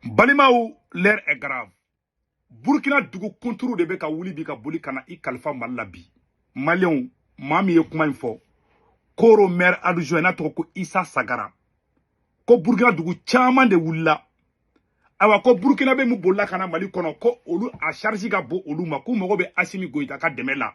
balimaw l'heure est grave burkina dugu kunturu de bɛ ka wuli bi ka boli ka na i kalifa mali la bi maliyɛnw maa min ye kuma in fɔ koro maire adjoint n'a tɔgɔ ko isa sagara ko burkina dugu caman de wulila ayiwa ko burkinabe minnu bolila ka na mali kɔnɔ ko olu a charge ka bon olu ma k'u mago bɛ asimi goyita ka dɛmɛ la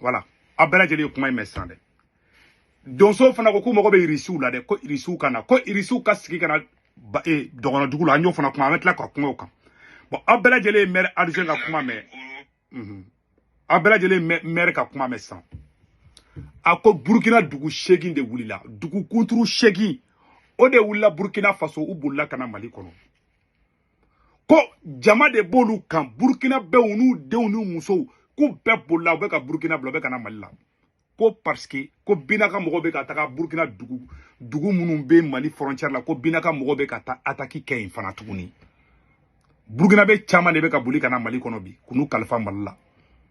voilà aw bɛɛ lajɛlen ye kuma in mɛn sisan dɛ donsow fana ko k'u mago bɛ irisiw la dɛ ko irisiw ka na ko irisiw ka sigi ka na e, dɔgɔnɔ dugu la an y'o fana kuma an bɛ tila ka kuma o kan bɔn aw bɛɛ lajɛlen ye mɛri adjoint ka kuma mɛn mhm. aw bɛɛ lajɛlen ye mɛri ka kuma mɛn sisan a ko burukina dugu seegin de wulila dugu kunturu seegin o de wulila burukina faso u bolila ka na mali kɔnɔ ko jama de b'olu kan burukinabew n'u denw n'u musow k'u bɛɛ bolila u bɛ ka burukina bila u bɛ ka na mali la ko parce que ko binaka mɔgɔw bɛ ka taga burukina dugu minnu bɛ mali frontière la ko binaka mɔgɔw bɛ ka taa ataki kɛ yen fana tuguni burukinabe caman de bɛ ka boli ka na mali kɔnɔ bi ka n'u kalifa mali la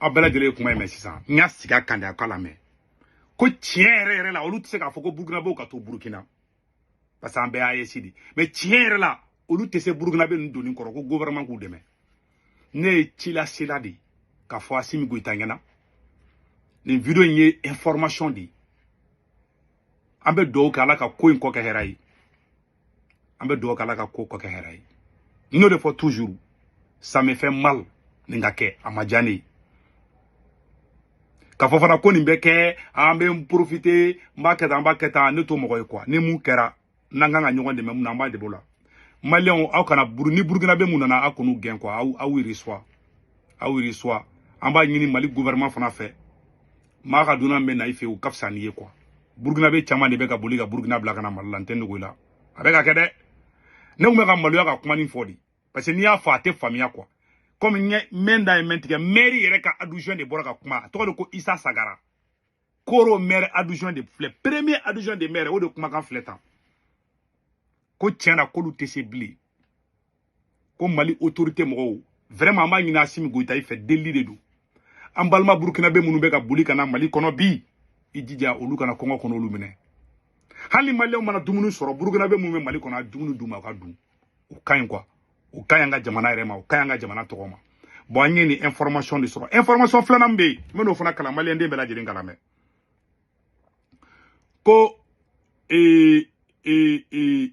aw bɛɛ lajɛlen ye kuma in mɛn sisan n y'a sigi a kan de a k'a lamɛn ko tiɲɛ yɛrɛ yɛrɛ la olu tɛ se k'a fɔ ko burukinabew ka to burukina parce que an bɛɛ ye aes de ye mais tiɲɛ yɛrɛ la olu tɛ se burukinabe ninnu doni kɔrɔ ko gouvernement k'u dɛmɛ ne ye cilasela de ye k'a fɔ asimi goyita ɲɛna nin video in ye information de ye an bɛ dugawu kɛ ala ka ko in kɔ kɛ hɛrɛ ye an bɛ dugawu k'ala ka ko kɔ kɛ hɛrɛ ye n y'o de fɔ toujours ça me fait mal nin ka kɛ a ma diya ne ye k'a fɔ fana ko nin bɛ kɛ an bɛ profiter n b'a kɛ tan an b'a kɛ tan ne t'o mɔgɔ ye quoi ni min kɛra n'an ka kan ka ɲɔgɔn dɛmɛ min na an b'a dɛmɛ o la maliyɛnw aw kana buru ni burukinabe minnu nana aw kan'u gɛn quoi aw aw y'u recevoir aw y'u recevoir an b'a ɲini mali gouvernement fana fɛ maa ka dunan bɛ na i fɛ u ka fisa n'i ye quoi burukinabe caman de bɛ ka boli ka burukina bila ka na mali la n tɛ n dogo i la a bɛ ka kɛ dɛ ne tun bɛ ka maloya ka kuma nin fɔ de parce que n'i y'a fɔ a tɛ faamuya quoi komi n ye mɛn da ye mɛn tigɛ mɛri yɛrɛ ka adjoint de bɔra ka kuma a tɔgɔ de ko isa sagara koro mɛri adjoint de filɛ premier adjoint de maire o de kumakan filɛ tan ko tiɲɛ na k'olu tɛ se bilen ko mali autorité mɔgɔw vraiment an b'a ɲini asimi goyita i fɛ delili de don an balima burukinabe minnu bɛ ka boli ka na mali kɔnɔ bi i jija olu kana kɔngɔ kana olu minɛ hali maliyɛnw mana dumuni sɔrɔ burukinabe minnu bɛ mali kɔnɔ a dumuni d'u ma u ka dun o ka ɲi quoi o ka ɲi an ka jamana yɛrɛ ma o ka ɲi an ka jamana tɔgɔ ma bɔn an ye nin information de sɔrɔ information filanan bɛ yen n bɛ n'o fana kalan maliden bɛɛ lajɛlen k'a lamɛn ko ee ee ee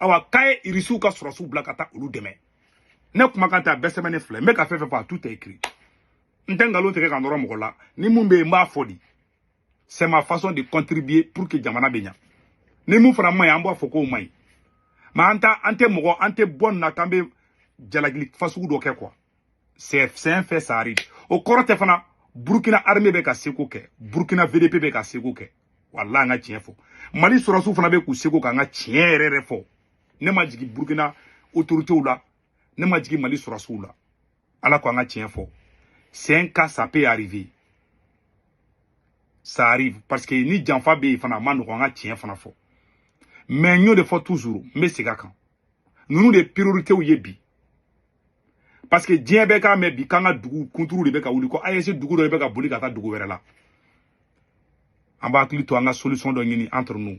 awa k'a ye irisiw ka sɔrɔsiw bila ka taa olu dɛmɛ ne kumakan tɛ a bɛɛ sɛbɛnnen filɛ n bɛ ka fɛn fɛn fɔ a tout est écrit n tɛ nkalon tigɛ ka nɔrɔ mɔgɔ la ni mun bɛ yen n b'a fɔ di c'est ma façon de contribuer pour que jamana bɛ ɲa ni mun fana man ɲi an b'a fɔ k'o man ɲi mais an t'a an tɛ mɔgɔ an tɛ bɔ nin na k'an bɛ jalakili fasugu dɔ kɛ quoi c'est un fait ça arrive o kɔrɔ tɛ fana burukina armée bɛ k'a seko kɛ burukina VDP bɛ k'a seko kɛ walayi an ka tiɲɛ fɔ mali sɔrɔsiw fana bɛ k'u seko k'an ka tiɲɛ yɛrɛ yɛrɛ fɔ ne ma jigin burukina otoritew la ne ma jigin mali sɔrɔsiw la ala ko an ka tiɲɛ fɔ c'est un cas ça peut arriver ça arrive parce que ni janfa bɛ yen fana a ma nɔgɔ an ka tiɲɛ fana fɔ mais n y'o de fɔ toujours n bɛ segin a kan ninnu de ye prioritew ye bi parce que diɲɛ bɛɛ k'a mɛn bi k'an ka dugu kunturu de bɛ ka wuli ko AES dugu dɔ de bɛ ka boli ka taa dugu wɛrɛ la an b'a hakili to an ka solution dɔ ɲini entre nous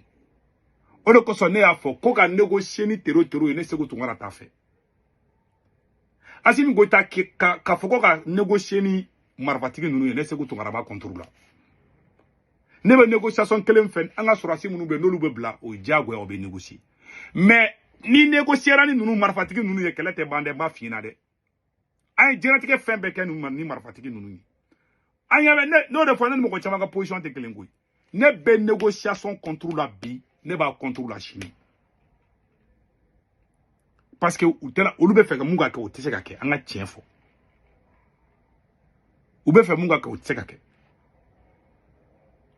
o de kosɔn ne y'a fɔ ko ka négocier ni tero tero ye ne Seku Tunkara t'a fɛ Asimi Goyita ka fɔ ko ka négocier ni marifatigi ninnu ye ne Seku Tunkara b'a contre la ne bɛ négociation kelen fɛ an ka sɔrɔsi minnu bɛ n'olu bɛ bila o ye diyagoya o bɛ négocier mais n'i négociera ni ninnu marifatigi ninnu ye kɛlɛ tɛ ban dɛ n b'a f'i ɲɛna dɛ an ye diɲɛlatigɛ fɛn bɛɛ kɛ ninnu ni marifatigi ninnu ye an ɲɛ bɛ ne y'o de fɔ ne ni mɔgɔ caman ka position tɛ kelen koyi ne bɛ négociation contre la bi ne b'a contre la sini parce que u tɛna olu bɛ fɛ ka mun ka kɛ o tɛ se ka kɛ an ka tiɲɛ fɔ u bɛ fɛ mun ka kɛ o tɛ se ka kɛ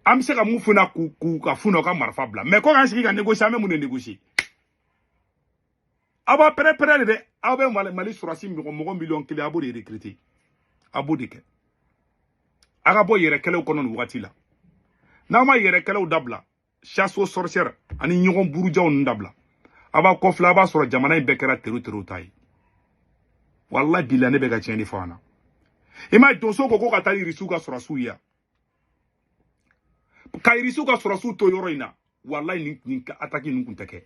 an bɛ se ka mun f'u ɲɛna k'u k'u k'a f'u ɲɛna u ka marifa bila mais ko k'an sigi ka négocier an bɛ mun de négocier aw b'a préparer de dɛ aw bɛ mali mali sɔrɔsi mɔgɔ mɔgɔ miliyɔn kelen a b'o de recruter a b'o de kɛ a ka bɔ yɛrɛkɛlɛw kɔnɔ nin wagati la n'aw ma yɛrɛkɛlɛw dabila chasse aux sorcières ani ɲɔgɔn burujaw ninnu dabila a b'a kɔfilɛ a b'a sɔrɔ jamana in bɛɛ kɛra tero tero ta ye walayi bilayi ne bɛ ka tiɲɛ de f'aw ɲɛna i m'a ye donso ko ko ka taa irisiw ka sɔrɔsiw ye ka irisiw ka sɔrɔsiw to yɔrɔ in na walayi nin nin ataki ninnu tun tɛ kɛ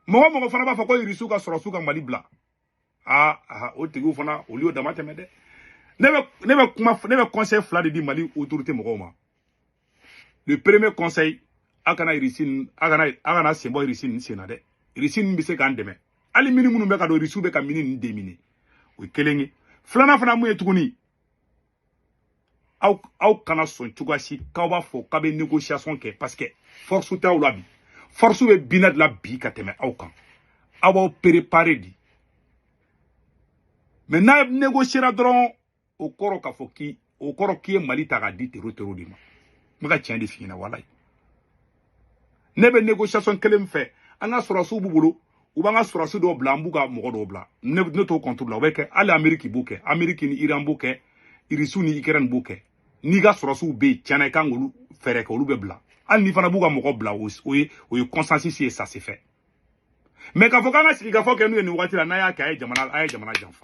mɔgɔ mɔgɔ fana b'a fɔ ko irisiw ka sɔrɔsiw ka mali bila aa aa o tigiw fana olu y'o dama tɛmɛ dɛ ne bɛ ne bɛ kuma ne bɛ conseil fila de di mali autorité mɔgɔw ma le premier conseil a kana irisi a kana a kana sen bɔ irisi nin sen na dɛ irisi nin bɛ se k'an dɛmɛ hali mini minnu bɛ ka don irisiw bɛ ka mini nin déminer o ye kelen ye filanan fana mun ye tuguni aw aw kana sɔn cogoya si k'aw b'a fɔ k'a bɛ négociation kɛ parce que force t'aw la bi force bɛ Bina de la bi ka tɛmɛ aw kan aw b'aw préparer de mais n'a négociera dɔrɔn o kɔrɔ k'a fɔ k'i o kɔrɔ k'i ye Mali ta k'a di tero tero de ma n bɛ ka tiɲɛ de f'i ɲɛna walayi ne bɛ négociation kelen fɛ an ka sɔrɔsiw b'u bolo u b'an ka sɔrɔsi dɔw bila an b'u ka mɔgɔ dɔw bila ne ne t'o contre la o bɛ kɛ hali ameriki b'o kɛ ameriki ni iran b'o kɛ irisiw ni ukraine b'o kɛ n'i ka sɔrɔsiw bɛ yen tiɲɛna i kan k'olu fɛɛrɛ kɛ olu bɛ bila hali n'i fana b'u ka mɔgɔ bila o ye o ye consensus ye ça se fait mais k'a fɔ k'an ka sigikafɔ kɛ n'u ye nin wagati la n'a y'a kɛ a ye jamana a ye jamana janfa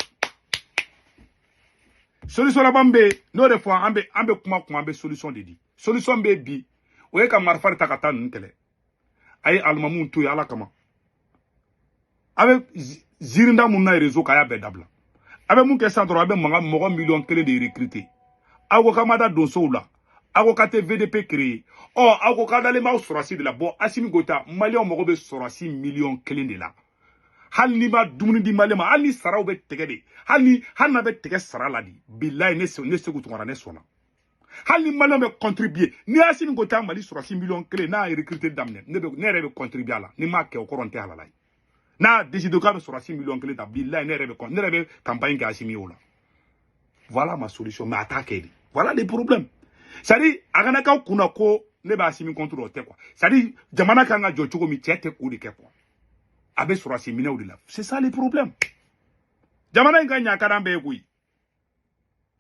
solution laban bɛ yen n'o de fɔ an bɛ an bɛ kuma kuma an bɛ solution de di solution bɛ bi o ye ka marifa ta ka taa ninnu kɛlɛ a ye alimamiw to yen ala kama a bɛ ziirin da mun na rezo kan a y'a bɛɛ dabila a bɛ mun kɛ sisan dɔrɔn a bɛ mankan mɔgɔ miliyɔn kelen de recruter aw ko k'a ma da donsow la aw ko k'a tɛ vdp créer ɔ aw ko k'a dalen b'aw sɔrɔsi de la bɔn asimi goyita maliyɛnw mago bɛ sɔrɔsi miliyɔn kelen de la hali n'i ma dumuni di maliyɛn ma hali ni saraw bɛ tɛgɛ de hali ni hali n'a bɛ tɛgɛ sara la de bilayi ne seku tunkara ne sɔnna hali ni maliyɛn bɛ contribuer ni asimi goyita mali sɔrɔsi miliyɔn kelen n'a ye recruter daminɛ ne bɛ ne yɛrɛ bɛ contribuer a la ni m'a kɛ o kɔrɔ n tɛ halala ye n'a décidé k'a bɛ sɔrɔsi miliyɔn kelen ta bilayi ne yɛrɛ bɛ ne yɛrɛ bɛ campagne kɛ asimi o la voilà ma solution mais a t'a kɛ de voilà les problèmes c'est à dire a kana k'aw kunna ko ne b'asimi contre o tɛ quoi c'est à dire jamana kan ka jɔ cogo min cɛ tɛ k'o de kɛ quoi a bɛ sɔrɔsi minɛw de la c'est ça les problèmes jamana in ka ɲa ka d'an bɛɛ ye koyi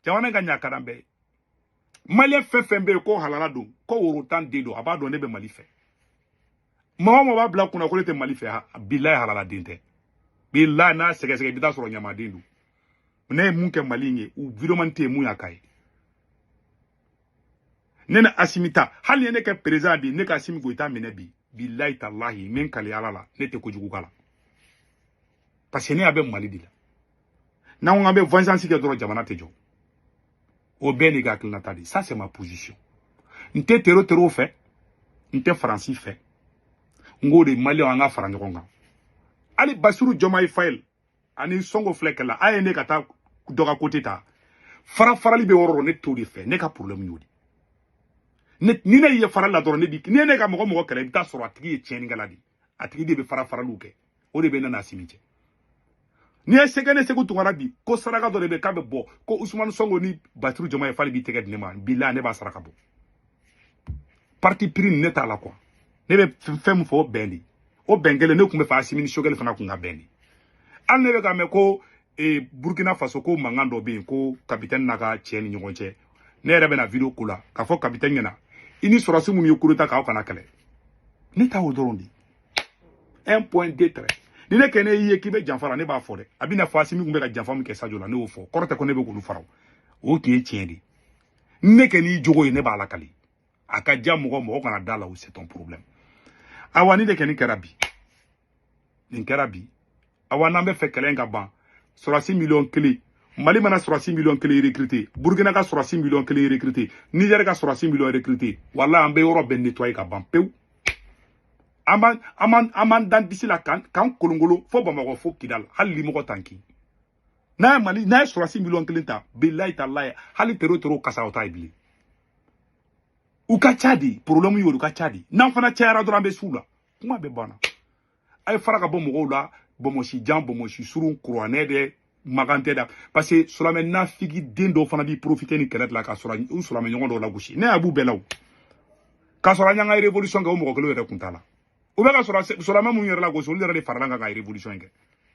jamana in ka ɲa ka d'an bɛɛ ye maliyɛn fɛn fɛn bɛ yen ko halala don ko worotan den don a b'a dɔn ne bɛ mali fɛ maa o maa b'a bila kunna ko ne tɛ mali fɛ bilayi halala den tɛ bilayi n'a sɛgɛsɛgɛ i bɛ taa sɔrɔ ɲamaden don ne ye mun kɛ mali in ye u videomani tɛ yen mun y'a k'a ye ne ni asimi ta hali ye ne kɛ perezidan bi ne ka asimi goyita minɛ bi bilayi talahi n bɛ n kali ala la ne tɛ kojugu k'a la parce que ne ɲɛ bɛ mali de la n'an ko an bɛ vengeance kɛ dɔrɔn jamana tɛ jɔ o bɛ ne ka hakilinata de ça c'est ma position n tɛ tero terow fɛ n tɛ faransi fɛ n ko de maliyɛnw an ka fara ɲɔgɔn kan hali basiru jɔmayi fayi ani sɔnko filɛ kɛlɛ la a ye ne ka taa dɔ ka kote ta fara farali bɛ yɔrɔ dɔ ne t'o de fɛ ne ka problème y'o de ni ne ye farali la dɔrɔn ne bi ni ne ka mɔgɔ mɔgɔ kɛlɛ i bɛ taa sɔrɔ a tigi ye tiɲɛnikɛla de ye a tigi de bɛ fara faraliw kɛ o de bɛ ne n'asimi cɛ n'i ye sɛgɛ ne seku tunkara bi ko saraka dɔ de bɛ k'a bɛ bɔ ko usumani sɔnko ni basiru jɔmayi fayi b'i tɛgɛ di ɲɔgɔn ma bilayi ne b'a saraka bɔ parti pris ne t'a la quoi ne bɛ fɛn min fɔ o bɛn de o bɛn kelen ne tun b'a fɛ asimi ni sogɛli fana kun ka bɛn de hali ne bɛ k'a mɛn ko e, burkina faso ko mankan dɔ bɛ yen ko kapitɛni n'a ka cɛ ni ɲɔgɔn cɛ ne yɛrɛ bɛna video k'o la k'a fɔ kapitɛni ɲɛna i ni sɔrɔsi minnu ye kudeta k'aw kana kɛlɛ ne ta o dɔrɔn de un point deux trait ni ne kɔni y'i ye k'i bɛ janfa la ne b'a fɔ dɛ a bɛna fɔ asimi tun bɛ ka janfa min kɛ sajo la ne y'o fɔ kɔrɔ tɛ ko ne bɛ k'olu faraw o tun ye tiɲɛ de ne kɔni jogo ye ne b'a lakali a ka diya mɔgɔ mɔgɔ kana d'a la o c'est ton problème awa nin de kɔni kɛra bi nin kɛra bi awa n'an b'a fɛ kɛlɛ in ka ban sɔrɔsi miliyɔn kelen mali mana sɔrɔsi miliyɔn kelen recruté burkina ka sɔrɔsi miliyɔn kelen recruté niger ka sɔrɔsi miliyɔn recruté wala an bɛ yɔrɔ bɛɛ nettoyer ka ban pewu an b'an an b'an an b'an d'an disi la k'an k'an kolonkolon fo bamakɔ fo kidal hali limɔgɔ t'an kin n'a ye mali n'a ye sɔrɔsi miliyɔn kelen ta bilayi talayi hali tero tero kasa o t'a ye bilen u ka ca de problème y'olu ka ca de n'an fana cayara dɔrɔn an bɛ s'u la kuma bɛɛ banna a ye fara ka bɔ mɔgɔw la bɔmɔsi jan bɔmɔsi surun kuranɛ dɛ makan tɛ da parce que sulamɛ nafigiden dɔw fana b'i profiter nin kɛlɛ de la k'u sulamɛ ɲɔgɔn dɔw lagosi ne ɲɛ b'u bɛɛ la o k'a sɔrɔ an y'an ka révolution kɛ o mɔgɔ kelen yɛrɛ kun t'a la u bɛ ka sulamɛ minnu yɛrɛ lagosi olu yɛrɛ de farala an kan ka révolution kɛ